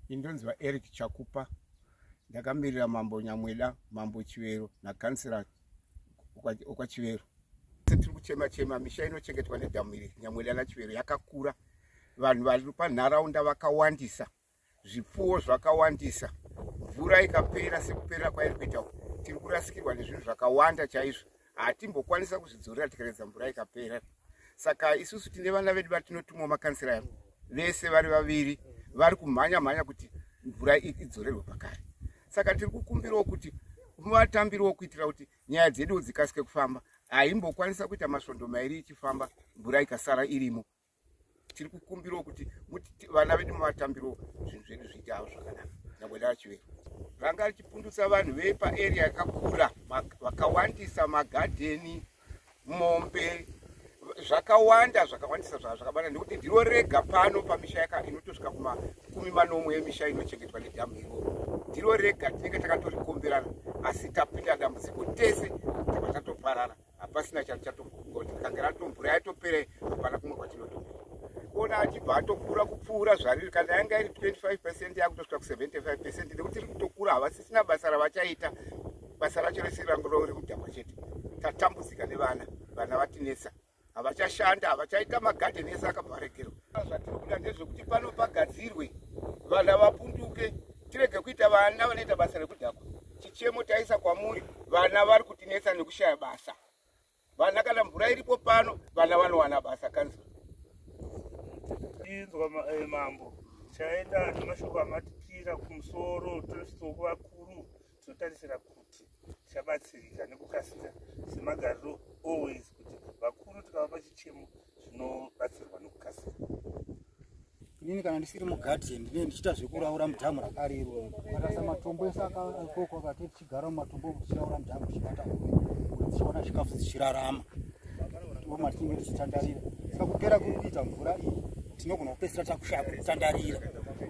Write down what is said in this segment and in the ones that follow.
indonzi vaeric chakupa ndakamirira mambo nyamweda mambo chivero nakansera okwachivero tiri kuchema chema misha inochengetwa nedhamu iri nyamweda nachivero yakakura vanhu vari panharaunda vakawandisa zvipfuwo zvakawandisa mvura ikapera sekupera kwairi kuita tiri kurasikirwa nezvinhu zvakawanda chaizvo hatimbokwanisa kuzvidzorera tikaredza mvura ikapera saka isusu tine vana vedu vatinotumwa makansira yavo vese vari vaviri vari kumhanya mhanya kuti mvura idzorerwe pakare saka tiri kukumbirawo kuti vatambiriwo kuitira kuti nyaya dzedu dzikasike kufamba haimbokwanisa kuita masvondo mairi ichifamba mvura ikasara irimo tiri kukumbirawo kuti vana vedu muvatambirawo zvinhu zvedu zviite avo zvakanaka nyangwe ndavachivero ranga richipundutsa vanhu vepaarea yakakura vakawandisa magadheni mombe zvakawanda zvakawandisa zvaa zvakabana nekuti ndiro rega pano pamisha yaka inotosvika kumakumi manomwe emisha inochengetwa nedhamu iro ndiro rega tinenge takatorikomberana asi tapinda dambudziko tese tava tatoparara hapasina chati chatogondi kange ratombura yatopere hapana kumwe kwatinotoa kuona achibva atokura kupfuura zvariri kana yanga iri 25 percent yakutosvika ku75 percent nekuti iri kutokura havasisina basa ravachaita basa racho rese rangu rori kudhakwa chete tatambudzika nevana vana vatinetsa havachashanda havachaita magadhen ese akabva varegerwa zvatiri kuda ndezvekuti pano pagadzirwe vana vapunduke tirege kuita vana vanoita basa rekudhakwa chichemo taisa kwamuri vana vari kutinetsa nekushaya basa vana kana mvura iripo pano vana vanowana basa kanzura inzwa eh, mambo chaenda nemashoko amatikira kumusoro tosoko vakuru tinotarisira kuti tichabatsirika nekukasira semagariro always kuti vakuru tikavapa chichemo zvinobatsirwa nokukasira inini kana ndisiri mugadhi ndine ndichiita zvekuraura mudhamu rakari iro akasa matombo ese akoko akati tichigara mumatombo tichiraura mudhamu tichibata tichiona zvikafu dzichirarama tioma tinenge tichitandarira saka kupera kuri kuita mvura iyi tinogona kupesira takushaya kutandarira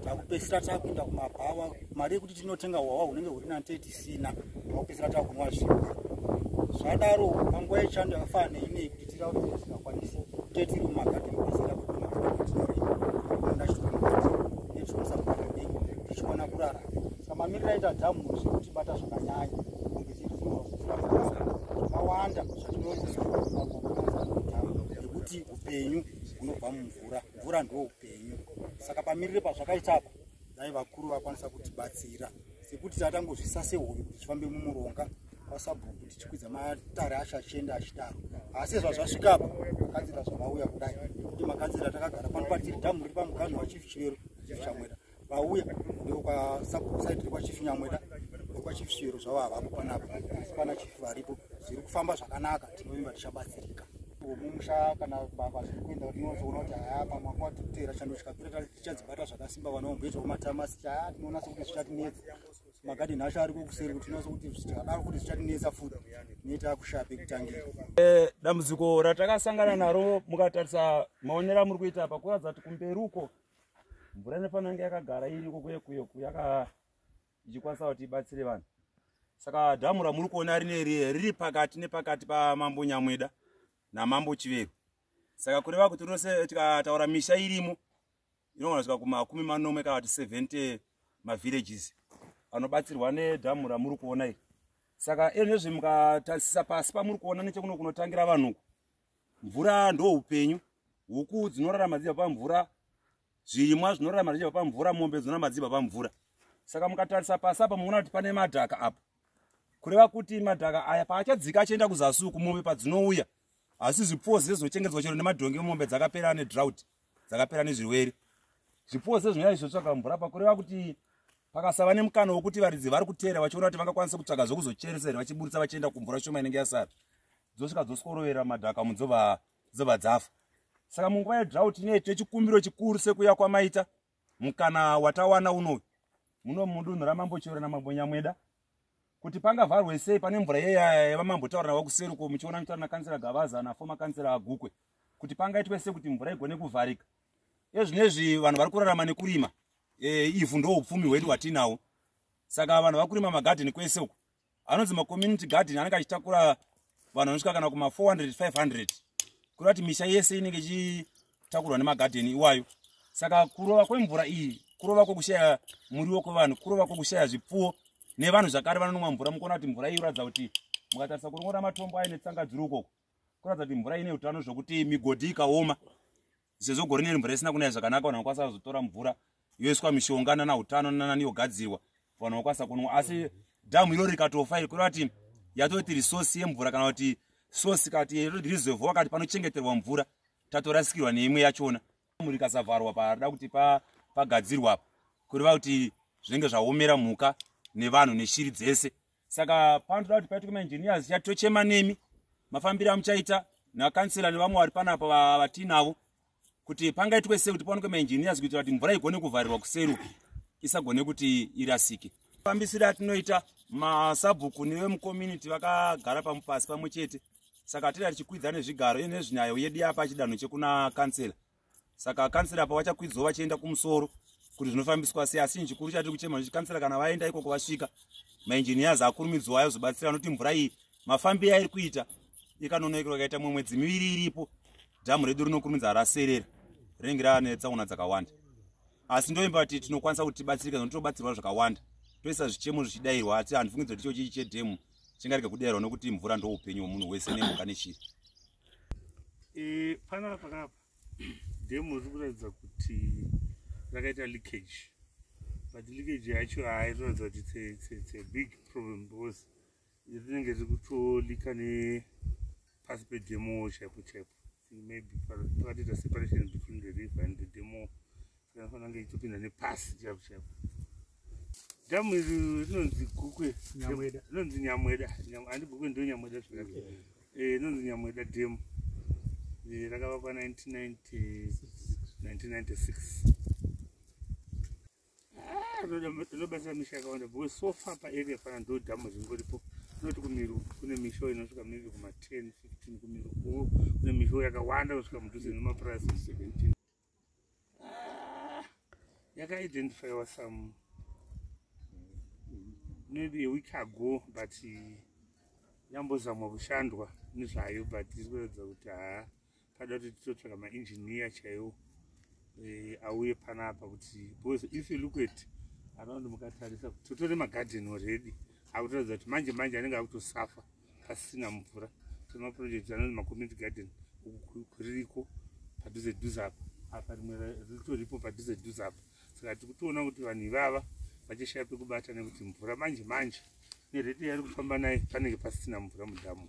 takupesira takuenda kumabhawa mari yekuti tinotenga hwawa hunenge huri na 30 tina vakupedzisira tava kunwa zvimbwa zvadaro panguva yechando yakafana neinei kuti tira kuti tisingakwanisi tetiri mumagadhi mupedzisira tichiona kurara samamirira ita dhamu zvekutibata zvakanyanya kunge zvakawanda zvatinoonekuti upenyu hunobva mumvura mvura ndoupenyu saka pamirire pazvakaitapa dai vakuru vakwanisa kutibatsira sekuti tatangozvisa sehoyo kuti tifambe mumuronga kwasabhuku kuti tichikwidza matare acho achienda achidaro asi zvazvasvikapa makanzira zvavauya kudai kuti makanzira takagara pano patiri dhamu riri pamuganhu wachief chivero chichamwera vauya ndokwasabhukusaidi riri kwachief nyamwera kwachief chivero zvavo havapo panapa asi pana chief varipo zviri kufamba zvakanaka tinovimba tichabatsirika mumusha kana baba zviri kuenda rinozoona kuti haya pamwe kwatikutera chando chikapira tichadzibata zvakasimba vana vamboitawo matamasi chaya tinonasa kuti zvichatinetsa magadeni acho ariko kuseri kuti tinonasa kuti zvichadaro kuti zvichatinetsa futi neita kushape kutangira eh, dambudziko ratakasangana naro mukatarisa maonero amuri kuita apa kuratidza kuti kumberi uko mvura inofanira kunge yakagara iriko kuye kuye yaka ichikwanisa kuti ibatsire vanhu saka dhamu ramuri kuona rine riye riri pakati nepakati pamambo nyamweda namambo chiveru saka kureva kuti rose tikataura misha irimo inogona svika kumakumi manomwe kana kuti 70 mavillages anobatsirwa nedhamu ramuri kuona iri saka enezve mukatasisa pasi pamuri kuona nechekuno kunotangira vanhuku mvura ndo upenyu huku dzinorarama dzibva pamvura zvirimwa zvinorarama zvichibva pamvura mombe dzinorarama dzibva pamvura saka mukatarisa pasi apa muona kuti pane madhaka apa kureva kuti madhaka aya paachadzika achienda kuzasi uku mombe padzinouya asi zvipfuwo zviye zvinochengetedzwa chero nemadhongi emombe dzakapera nedrout dzakapera nezvirwere zvipfuwo zviye zvinonyanya zvizotsvaga mvura pakureva kuti pakasava nemukana wokuti varidzi vari kuteera vachiona kuti vangakwanisa kutsvaga zvokuzocheresa here vachiburitsa vachienda kumvura shoma inenge yasara dzosvika dzosikorovera madhaka mudzobva dzafa saka munguva yedrought inei tine chikumbiro chikuru sekuya kwamaita mukana watawana unoyu muno mudunhu ramambo chero namambo nyamweda kuti pangavharwe sei pane mvura yevamambotaura navo kuseri uko muchiona mitaura nakansera gavaza nafoma kansera agukwe kuti pangaitwe sei kuti mvura igone kuvharika ezvinezvi vanhu vari kurarama nekurima e, ivhu ndoupfumi hwedu hwatiinawo saka vanhu vakurima magadheni kwese uko anonzi macommunity garden anenge achitakura vanhu vanosvika kana kuma 400 500 kuri vati misha yese inenge ichitakurwa nemagadheni iwayo saka kurova kwemvura iyi kurova kwokushaya muriwo kwevanhu kurova kwokushaya zvipfuwo nevanhu zvakare vanonomwa mvura mukuona kuti mvura iyi inoratidza kuti mukatarisa kurongora matombo aine tsanga dziri ukoko kuratidza kuti mvura ine utano zvokuti migodhi ikaoma sezvo gore neri mvura isina kunaya zvakanaka vanhu vanokwanisa kuzotora mvura yoiswa mishonga nana utano nanani yogadzirwa vanhu vanokwanisa kunwa asi dhamu iro rikatofa iri kureva kuti yatoiti resource yemvura kana kuti source kana kuti roti reserve wakati panochengeterwa mvura tatorasikirwa neimwe yachona dhamu rikasavharwa parida kuti pagadzirwa pa kureva kuti zvinenge zvaomera mhuka nevanhu neshiri dzese saka panotoda kuti paitwe maengineers chat tochema nemi mafambiro amuchaita nakansela nevamwe vari panapa vatinavo kuti pangaitwe sei kuti paonekwe maengineers kuitira kuti mvura igone kuvharirwa kuseru isagone kuti irasike fambisiri atinoita masabhuku nevemucommunity vakagara pamupasi pamwe chete saka tida tichikwidza nezvigaro iye nezvinyayo yedu yapa chidanho chekuna kansela saka kansila apa vachakwidzwa vachienda kumusoro kuti zvinofambiswa sei asi chikuru chatiri kuchema kuti kansila kana vaenda ikoko vasvika mainjiniyazi akurumidzwa ayo zobatsira anoti mvura iyi mafambiro airi kuita ikanonokerwa ikaita mumwe mwedzi miviri iripo dhamu redu rinokurumidza raserera rinenge raane tsaona dzakawanda asi ndoimba kuti tinokwanisa kuti tibatsirika nokuti tobatsirwa zvakawanda toisa zvichemo zvichidairwa asi handifungidzwa kuti icho chichi chedhemu chingarega kudairwa nokuti mvura ndoupenyu hwomunhu wese nemhuka nechiri e, panapa panapa demo riri kuratidza kuti rakaita leakage but leakage yacho hairikuratidza kuti it's a big problem because rinenge riri kutolika nepasi pedemo chaipo chaipo maybe pakatoita separation between the river and the demo Unenge ichipinda nepasi chapo chapo. Damu iri rinonzi Gukwe Nyamweda. Rinonzi Nyamweda. Handi Gukwe ndo Nyamweda zvakati. Eh, rinonzi Nyamweda Dam. Eh, rakavakwa 1996. Ah, rinobasa misha yakawanda because so far pa area pana ndo damu ringoripo. Tinoti kumiru kune misho inosvika maybe kuma 10, 15 kumiru kune misho yakawanda kusvika mudhuze nemapurazi 17. yakaidentifyiwa some maybe a week ago but yambozamwa kushandwa nezvayo but iri kuratidza kuti haa pada kuti titotsvaka maengineer chaiwo eh, auye panapa kuti because if you look at around mukatarisa kuti totore magarden already akutoratidza kuti manje manje anenge akutosafa pasina mvura so maproject anonzi macommunity garden uku kuririko padhuze dhuze apa apa rimwe ritoripo padhuze dhuze apa saka tiri kutoona kuti vanhu ivava vachishaya pekubata nekuti mvura manje manje nerete yari kufamba naye panenge pasisina mvura mudhamu